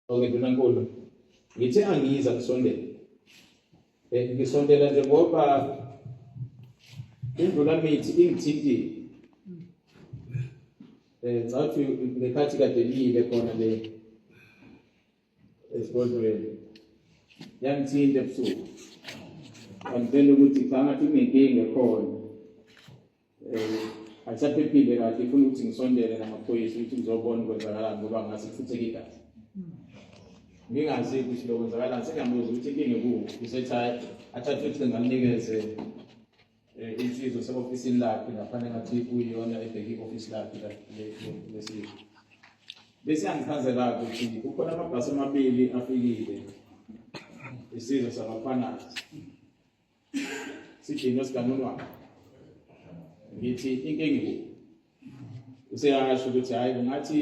Okay, Ndunankulu. Ngithe angiyiza kusondela. Eh ngisondela nje ngoba indlula mithi ingithintile. Eh ngathi ngekhathi kade ngiyile khona le esigodlweni. Yangithinta ebusuku. Angitshela ukuthi cha ngathi kunenkinga khona. um ayisaphephile kahle ifuna ukuthi ngisondele namaphoyisa ukuthi ngizobona ukwenzakalani ngoba ngase kufutheke igazi ngingazi ukuthi lokwenzakalani sengiyamuza ukuthi inkinga ekuwuphi usethi athathe ukuthi ngalinikeze Eh, insizwa sewofisini lakhe ngafanele ngathi kuyiyona ebheke i-ofisi lakhe lesizwe bese yangichazela-ke ukuthi kukhona amabhasi amabili afikile isizwe sabafanazi sithini esikanonwana ngithi inkingi useyasho ukuthi hayi kungathi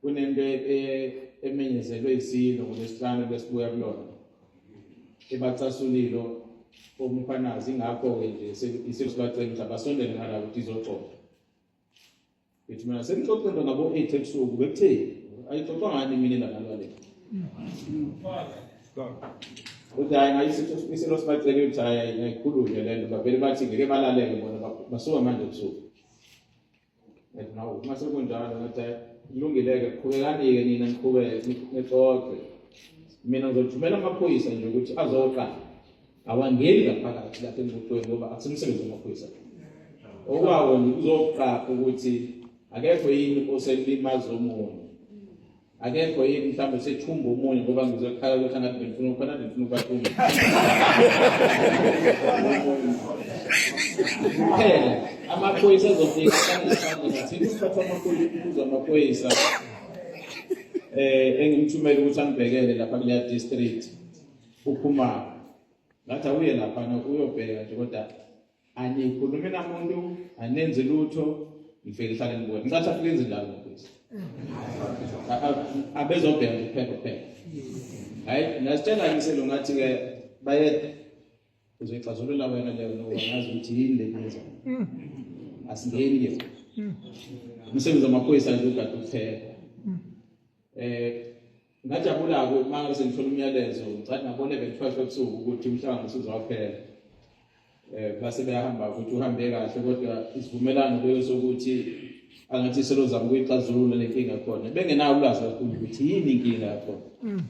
kunento e, e, emenyezelwe isilo ngolesihlanu besibuya kulona ebacasulilo omkhwanazi ingakho-ke nje isilo sibacela ukuthi abasondele ngala ukuthi izoxoxa Bethi mina sengixoxe into ngabo 8 ebusuku bekutheni? Ayixoxa ngani mina nalwa le? Uthi hayi ngayisitho isilo sibacele ukuthi hayi ngayikhulume le nto bavele bathi ngeke balaleke bona basuka manje ebusuku. Bethi nawo uma sekunjalo ngathi hayi kulungile-ke qhubekani-ke nina niqhubeke nixoxe mina ngizothumela amaphoyisa nje ukuthi azoqala awangeni ngaphakathi lapha emotweni ngoba akusemsebenzi wamaphoyisa okwawo nikuzoqapha ukuthi akekho yini oselimaza omunye akekho yini mhlawumbe sethumba omunye ngoba ngizokhala ukuthi angathi bengifuna ukhona bengifuna ubathumba kuphela amaphoyisa azofika athini ukuphatha amaphoyisa amaphoyisa um engimthumele ukuthi angibhekele lapha kuleya district ukhumalo ngathi awuye laphana uyobheka nje kodwa anikhulumi namuntu anenzi lutho ngifike ngihlale ngibona ngicathi afike enze njalo mfowethu abezobheka nje kuphela kuphela hayi ngasitshela ngiselo ngathi-ke bayede uzoyixazulula wena leyo nowangazi ukuthi yini le neza mm. asingeni ke mm. umsebenzi wamaphoyisa nje ugade ukuphela eh ngajabula-ke uma ngabe sengithola umyalezo ngicathi ngabonebe ngithwashe ebusuku ukuthi umhlangano usuzowaphela um eh, base beyahamba ukuthi uhambe kahle kodwa isivumelano leyo sokuthi angathi selozama ukuyixazulula le nkinga khona bengenawo ulwazi kakhulu ukuthi yini inkinga yakhona mm.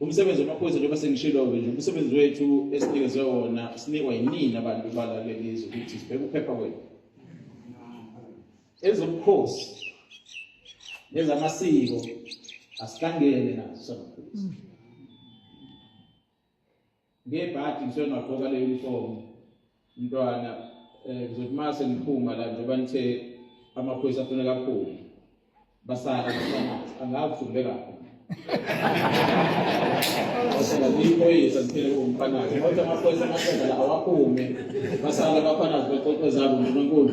umsebenzi wamaphoyisa njengoba sengishilo-ke nje umsebenzi wethu esinikezwe wona sinikwa yinini abantu balalelizwe ukuthi sibheke uphepha kwenu ezobukhosi nezamasiko asihlangene nazo samaphoyisa ngebhadi ngisuke ngagqoka le uniform mntwana um ngizothi uma sengiphuma la njengoba nithe amaphoyisa afuna kakhulu basala angazi ukuthi ubekaphi iphoyisa ziphele kumfanazi kodwa amaphoyisa amaqeda la awaphume basala abafanazi bexoxe zabo unkulunkulu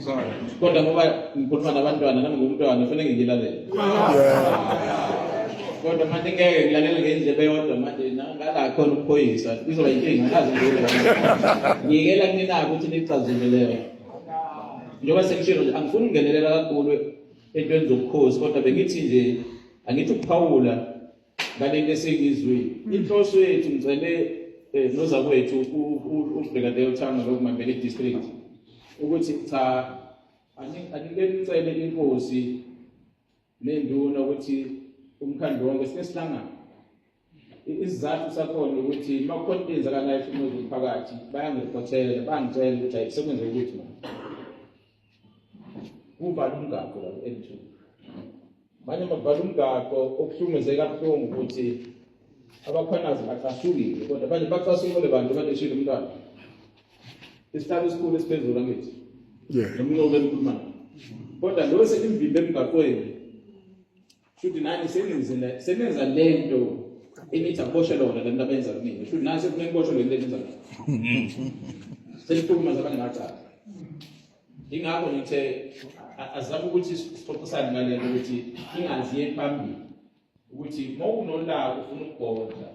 Sorry. Kodwa ngoba ngikhuluma nabantwana nami ngumntwana kufanele ngilalele. Kodwa manje ngeke ngilalele ngendlebe yodwa manje ngala khona ukuphoyisa izoba inkinga ngazi ngiyela. Ngiyela kunina ukuthi nicazimele. Njengoba sengishilo nje angifuni ungenelela kakhulu entweni zobukhosi kodwa bengithi nje angithi ukuphawula ngalento esengizwile mm. inhloso yethu ngicele eh, nozakwethu ubheka leyo thanga lokumamela i-district ukuthi cha anike nicele inkosi nenduna ukuthi umkhandlu wonke sike sihlangane isizathu sakhona ukuthi uma kukhona into eyenzakalayo ehlumeza umphakathi bayangiriphothela bangitshela ukuthi ayi sekwenzeka ukuthi kuvala umgaqo la ku-N2 manje makuvala umgaqo okuhlumeze kabuhlungu ukuthi abakhwanazi bacasukile kodwa manje bacasukile bantu baleshile umntwana isihlalo esikhulu esiphezulu angithi nomnqobo emkhulumana kodwa lo selimvimbe emgaqweni Shuthi nani senenzile senenza lento enithi akuboshe lona lento abenza kumina. Shuthi nani sekumele kuboshe lento enza mina. Seliphuma zabanye ngacala. Ingakho ngithe azama ukuthi sixoxisane ngale ukuthi ingazi yephambili ukuthi mawunolaka ufuna ukugodla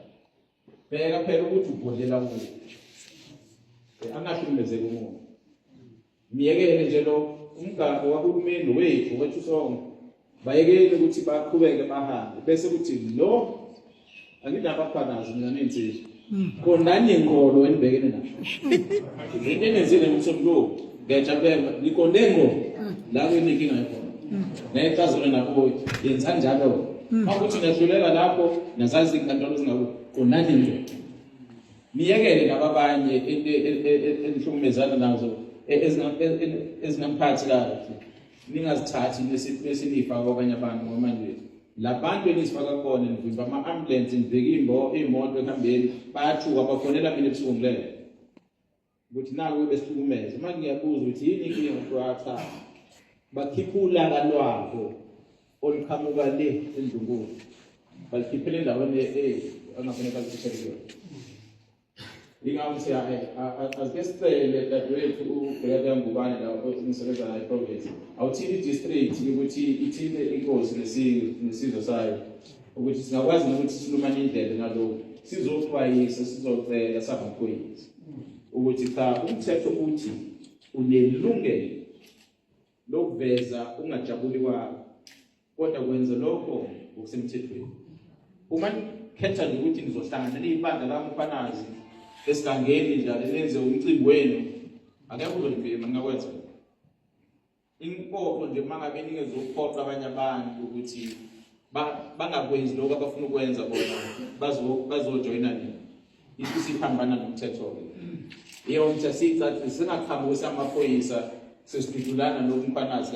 bheka phela ukuthi ubhodlela kuthi eh, angahlukumezeki umuntu myekele nje lo umgaqo wahulumeni wethu wethu sonke bayekele ukuthi baqhubeke bahambe bese kuthi lo anginabafanazi mina nensizwa hmm. konani inkolo enibhekene nayo into enenzile ngomsombuluko Ngiyajabulela niqonde ngqo mm. la kuyinkinga ikhona. Mm. Nayicazelo nakho yenza njalo. Mm. Makuthi niyadlulela lapho nazazi inkantolo zingaku qondani nje. Niyekele laba abanye e, e, e, enihlukumezana nazo ezingamphathi kahle. Ningazithathi nesinifa kwabanye abantu ngoba nje labantu enizifaka kubona nivimba ama-ambulensi nivika iy'moto ekuhambeni bayathuka bafonela mina ebusuku ngilele ukuthi naku besihlukumeza uma ngiyabuza ukuthi yini inkinga ngokuqhatha bakhipha ulaka lwabo oluqhamuka le endlunkulu balikhiphele endaweni angafanele balikhiphele kuyona yingakho siya asike sicele dadewethu ubhekade yangubane la ngisebenza naye province awuthini i-district ukuthi ithinte inkosi nesizwe sayo ukuthi singakwazi nokuthi silumane indlebe ngalokhu sizoxwayisa sizocela samaphoyisa ukuthi cha umthetho uthi unelungelo lokuveza ungajabuli kwakho kodwa kwenza lokho ngokusemthethweni uma nikhetha nje ukuthi nizohlangana niyibandla lami ufanazi esigangeni njalo nenze umcimbi wenu akekho uzonibhema ningakwenza Inkopo nje uma ngabe ningezokuphoqa abanye abantu ukuthi bangakwenzi lokho abafuna ukwenza bona bazojoyina nini isho siphambana nomthetho-ke yonke siyicacise singaqhamuki samaphoyisa sesidudulana nokumpanazi